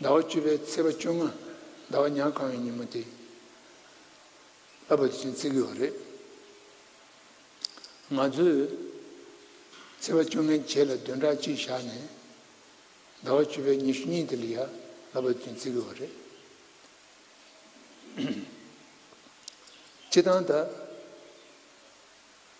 ཟླ་བ་བཅུ་པའི་ཚེས་པ་བཅོ་ལྔ་ཟླ་བ་ཉག་གང་བའི་ཉིན་མོ་དེ་ལ་བོད་དུ་ཆེན་བརྩི་གི་བ་རེད། ང་ཚོས་ཚེས་པ་བཅོ་ལྔའི་རྗེས་ལ་བདུན་ཕྲག་གཅིག་བཞག་ནས་ཟླ་བ་བཅུ་པའི་ཉི་ཤུ་གཉིས་དེ་ལ་ཡ་ལ་བོད་དུ་ཆེན་བརྩི་གི་བ་རེད། སྤྱི་བཏང་ད།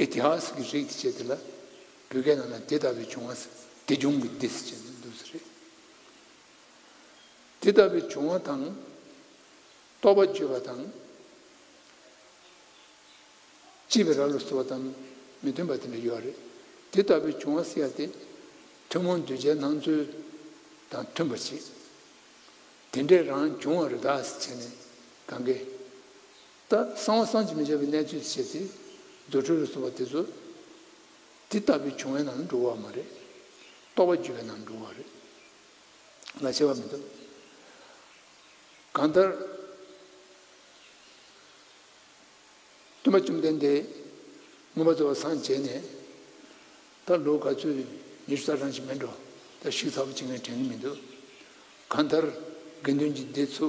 ཨེ་ཏི་ཧཱས་ཀྱི་རིགས་ཀྱི་ཆེད་དེ་ལ་བོད་སྐད་ནང་ན་དེ་ལྟ་བུའི་བྱུང་བ་སྡེ་སྦྱོང་གི་སྡེ་ཞེས་ནས་འདུག་ས་རེད། དེ་ལྟ་བུའི་བྱུང་བ་དང། རྟོག་པ་བརྗོད་པ་དང། བྱིས་པའི་ར་ལོ་བཟོ་བ་དང་མི་མཐུན་པ་དེ་འདྲ་ཡོད་རེད། དེ་ལྟ་བུའི་བྱུང་བ་སེལ་ཡ་དེ་ཐུན་མོང་གདུལ་བྱའི་སྣང་ཚུལ་དང་མཐུན་པར་བྱེད། དེ་འདྲས་རང་བྱུང་བ་རི་དྭགས་ཞེས་ནས་གང་གཱའི་ལྟར་གསང་བ་གསང་ཆེན་མི་བྱ་བའི་གནས་ཚུལ་བྱེད་ཚེ། རྫུ་འཕྲུལ་ལ་གསུངས་པ་དེ་ཚོ། དེ་ལྟ་བུའི་བྱུང་བའི་ནང་ན་འགྲོ་བ་མ་རེད། རྟོགས་པ་རྒྱུ་བའི་ནང་ན་འགྲོ་བ་རེད། ལ་བྱེད་པ་མི་འདུག། གང་ལྟར། སྟོན་པ་བཅོམ་ལྡན་འདས། མངོན་པ་གཙོ་བོ་སངས་རྒྱས་ནས། ད་ལོ་ག་ཚོད་ཉི་ཤུ་རྩ་གྲངས་ཤིག་མེད་འགྲོ། ད་བཤིག་ཚར་བ་ཅི་ངས་དྲན་གི་མི་འདུག། གང་ལྟར། དགེ་འདུན་གྱི་སྡེ་ཚོ།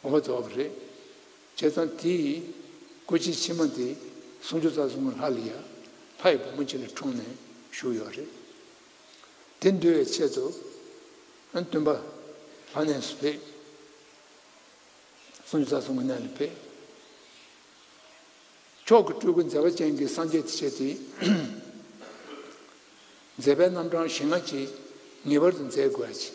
ངོ་བོ་རྫོགས་པ་རེད། བྱས་ཙང་དེ་ཡིས། སྐུ་ཕྱི་ཕྱི་མ་དེ། སུམ་ཅུ་རྩ་གསུམ་གྱི་ལྷ་ལི་ཡ། ལྷ་ཡི་བུ་མོ་ཁྱེད་ལ་འཁྲུངས་ནས་བཞུགས་ཡོད་རེད། དེ་འདུལ་བའི་ཆེད་དུ། སྟོན་པ། ལྷ་གནས་སུ་ཕེབས། སུམ་ཅུ་རྩ་གསུམ་གྱི་གནས་ལ་ཕེབས། མཆོག་གི་སྤྲུལ་སྐུ་མཛད་པ་ཅན་གྱི་སངས་རྒྱས་དེ་བྱས་ཏེ། མཛད་པའི་རྣམ་གྲངས་ཞེ་ལྔ་ཅིག་ངེས་པར་དུ་མཛད་དགོས་ཡ་ཆེ།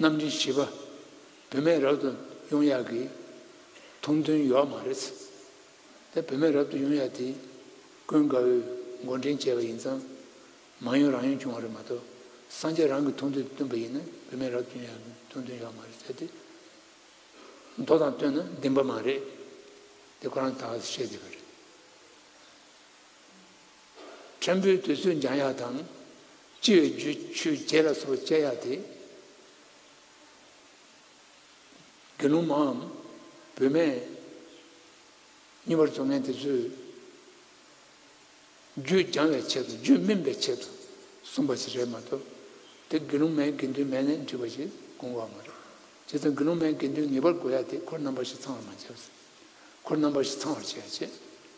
གནམ་གྲུའི་བྱིས་པ་བུད་མེད་རབ་ཏུ་དབྱུང་ཡག་གི། ཐུང་ཐུང་ཡོག་མ་རེད། དེ་བུད་མེད་རབ་ཏུ་དབྱུང་ཡག་དེ། ཀུན་དགའ་བོས་མགོ་འདྲེན་བྱས་པ་ཡིན་ཙང། མ་ཡུན་རང་ཡུན་བྱུང་བ་རེད་མ་གཏོགས། སངས་རྒྱས་རང་གི་ཐུང་ཐུང་དེ་བཏོན་པ་ཡིན་ན་བུད་མེད་རབ་ཏུ་དབྱུང་ཡག་གི་ཐུང་ཐུང་ཡོག་མ་རེད་ཟེར་དུས། མདོ་དང་བསྟུན་ན་བདེན་པ་མ་རེད། དེ་ཁོ་རང་ད་ག་ཟེ་བཤད་བསྡད་པ་རེད། ཕྲན་བུའི་དུས་ཚོད་འགྱངས་ཡག་དང། སྤྱི་བའི་རྒྱུ་ཆུ་རྗེས་ལ་སོགས་སྤྱད་ཡག་དེ། དགེ་སློང་མའམ། བུད་མེད། གཉིས་པར་བཙོང་མཁན་དེ་ཚོས། རྒྱུད་སྦྱང་བའི་ཆེད་དུ་རྒྱུད་སྨིན་པའི་ཆེད་དུ་གསུངས་པ་ཞིག་རེད་མ་གཏོགས། དེ་དགེ་སློང་མའི་དགེ་འདུན་མས་ལན་འདྲི་བ་ཞིག་དགོངས་བ་མ་རེད། བྱས་ཙང་དགེ་སློང་མའི་དགེ་འདུན་ངེས་པར་དགོས་ཡག་དེ་འཁོར་རྣམ་པ་བཞི་ཚང་བར་མ་བྱས་པ་ཚེ། འཁོར་རྣམ་པ་བཞི་ཚང་བར་བྱས་ཡག་བྱས།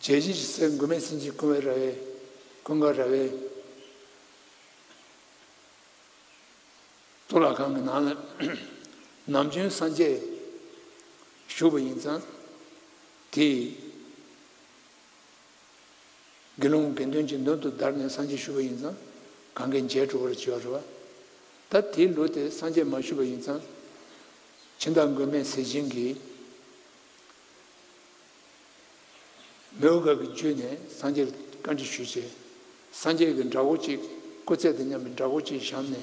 རྗེ་བཞི་ཞི་གསེར་མགོན་མེད་སྲིན་གྱིས་ཀུན་བའི་ར་བས། ཀུན་དགའ་ར་བས། གཙུག་ལག་ཁང་གི་ནང་ལ། ནམ་རྒྱུན་སངས་རྒྱས་བཞུགས་པ་ཡིན་ཙང། དེས། དགེ་སློང་དགེ་འདུན་གྱི་མདུན་དུ་བདར་ནས་སངས་རྒྱས་བཞུགས་པ་ཡིན་ཙང། གང་གཱའི་མཇལ་དྲོ་བར་བྱེད་པར་རོ། ད་དེའི་ལུགས་དེ་སངས་རྒྱས་མ་བཞུགས་པ་ཡིན་ཙང། ཕྱི་ཟླ་མགོན་མེད་ཟས་སྦྱིན་གྱིས། མོས་འོད་དཀར་གྱིས་བརྒྱུད་ནས་སངས་རྒྱས་བཀའ་འདྲི་ཞུས་ཚེ། སངས་རྒྱས་ཀྱིས་འདྲ་བོ་གཅིག་སྐུ་རྩེད་དུ་སྙམ་པའི་འདྲ་བོ་གཅིག་བཞག་ནས།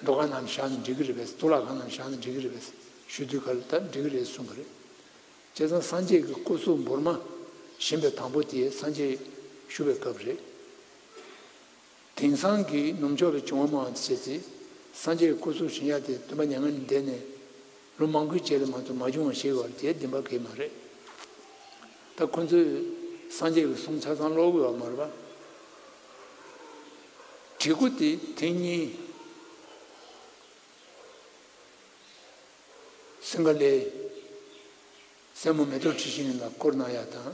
མདོ་གང་ནའམ་བཞག་ནས་འགྲིག་གི་རེད་པས་གཙུག་ལག་ཁང་ནའམ་བཞག་ནས་འགྲིག་གི་རེད་པས་ཞུ་དུས་ག་ལ་ད་འགྲིག་གི་རེད་གསུངས་པ་རེད། བྱས་ཙང་སངས་རྒྱས་ཀྱི་སྐུ་གཟུགས་འབུར་མ་བཞེངས་པའི་དང་པོ་དེ་སངས་རྒྱས་ཞུ་བའི་སྐབས་རེད། དེང་སང་གི་ནུབ་ཕྱོགས་པའི་བྱུང་བ་མང་ཆེ་ཚེ་སངས་རྒྱས་སྐུ་གཟུགས་བཞིན་ཡལ་ཏེ་སྟོན་པ་མྱ་ངན་ལས་འདས་ནས་ལོ་མང་པོའི་རྗེས་ལ་མ་ཐུག་མ་བྱུང་བ་ཞིག་བར་བརྒྱད་བདུན་པ་གས་མ་རེད། ད་ཁོ་ཚོས་སངས་རྒྱས་ཀྱི་གསུང་ཆ་ཚང་ཀློག་དགོས་བ་མ་རེད་པ། བྲིས་སྐུ་དེ་དེང་གཉིས་སིངྒ་ལའི་སྲས་མོ་མེ་ཏོག་འཁྲི་ཤིང་ལ་བསྐོར་གནང་ཡག་དང།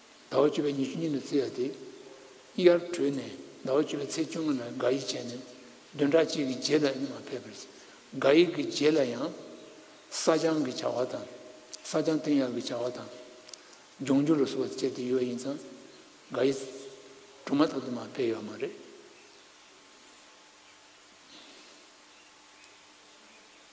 ཟླ་བ་བཅུ་པའི་ཉི་ཤུ་གཉིས་ལ་བརྩི་བ་སྟེ། དབྱར་དྲོས་ནས་ཟླ་བ་བཅུ་པའི་ཚེས་བཅོ་ལྔ་ལ་དགག་དབྱེ་བྱས་ནས་བདུན་ཕྲག་གཅིག་གི་རྗེས་ལ་སྙིང་བ་ཕེབས་པར་བརྩི། དགག་དབྱེ་གི་རྗེས་ལ་ཡང། བསགས་སྦྱང་གི་བྱ་བ་དང། བསགས་སྦྱང་བསྟན་ཡག་གི་བྱ་བ་དང། སྦྱོང་རྒྱུ་ལ་བསུ་བ་བཅས་དེ་ཡོད་ཡིན་ཙང། དགག་དབྱེ། གྲུབ་མ་ཐོབ་དུ་མ་ཕེབས་ཡོད་མ་རེད།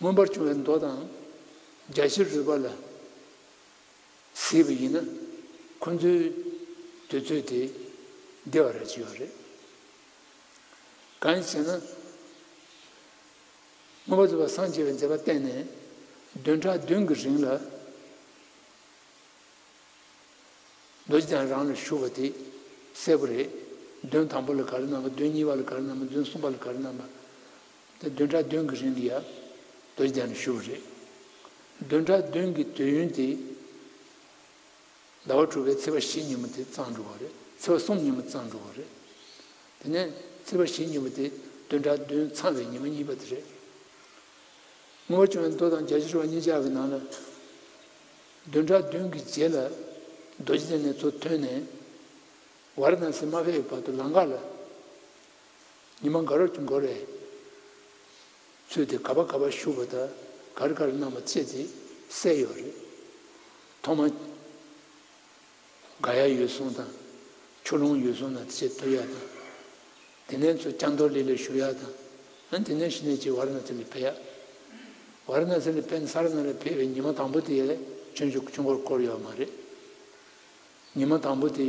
མངོན་པར་བྱུང་བའི་མདོ་དང། རྒྱ་ཆེར་རོལ་པ་ལ་གཟིགས་པ་ཡིན་ན། ཁོ་ཚོའི་འདོད་ཚུལ་དེ་བདེ་བ་ར་བྱེད་པ་རེད། གང་ཞེ་ན། མངོན་པར་རྫོགས་པར་སངས་རྒྱས་པའི་མཛད་པ་བསྟན་ནས་བདུན་ཕྲག་བདུན་གྱི་རིང་ལ། རྡོ་རྗེ་འཆང་རང་ལ་བཞུགས་པ་དེ་གསལ་པོ་རེད། བདུན་དང་པོ་ལ་ག་རེ་གནང་བ་བདུན་གཉིས་པ་ལ་ག་རེ་གནང་བ་བདུན་གསུམ་པ་ལ་ག་རེ་གནང་བ། ད་བདུན་ཕྲག་བདུན་གྱི་རིང་གི་ཡར་འདུལ་བརྒྱ་ནས་ཞུ་བ་རེད། བདུན་ཕྲག་བདུན་གྱི་དུས་ཡུན་དེ་ཟླ་བ་དྲུག་པའི་ཚེས་པ་བཞི་ཉིན་མོ་དེ་གཙང་འགྲོ་བ་རེད། ཚེས་པ་གསུམ་ཉིན་མོ་གཙང་འགྲོ་བ་རེད། དེ་ནས་ཚེས་པ་བཞི་ཉིན་མོ་དེ་བདུན་ཕྲག་བདུན་ཚང་བའི་ཉིན་མོ་གཉིས་པ་དེ་རེད། དངུལ་བ་བཅུ་ནས་མདོ་དང་བརྒྱ་ཕྱི་རུ་བ་གཉིས་ཆ་གི་ནང་ལ། བདུན་ཕྲག་བདུན་གྱི་རྗེས་ལ་རྡོ་རྗེ་ལྡན་ནས་ཚུར་ཐོན་ནས་ཝར་ན་སི་མ་བྷེའི་བར་དུ་ལང་ཀ་ལ། ཉི་མ་འགའ་རོག་གྱུར་འགོར་རེད། ཚུལ་དེ་ག་པ་ག་པ་བཞུགས་པ་དང་ག་རེ་ག་རེ་གནང་བ་བཅས་དེ་གསལ་ཡོད་རེད། ཐོག་མ། དགའ་ཡག་ཡོད་སོང་དང། ཆུ་ལོང་ཡོད་སོང་ན་ཅེས་བསྟོད་ཡག་དང། དེ་ནས་ཚོ་སྐྱ་མདོག་ལེ་ལེ་ཞུ་ཡག་དང། ཨ་དེ་ནས་ཤི་ནས་ཅེས་བར་ན་ཚེ་ལས་འཕེལ་ཡག། བར་ན་ཚེ་ལས་འཕེལ་ས་ར་ན་ལས་འཕེལ་བའི་ཉི་མ་དང་པོ་དེ་ལས་ཁྱོད་བཞུགས་ཆུ་འགོར་བསྐོར་ཡོད་མ་རེད། ཉི་མ་དང་པོ་དེ།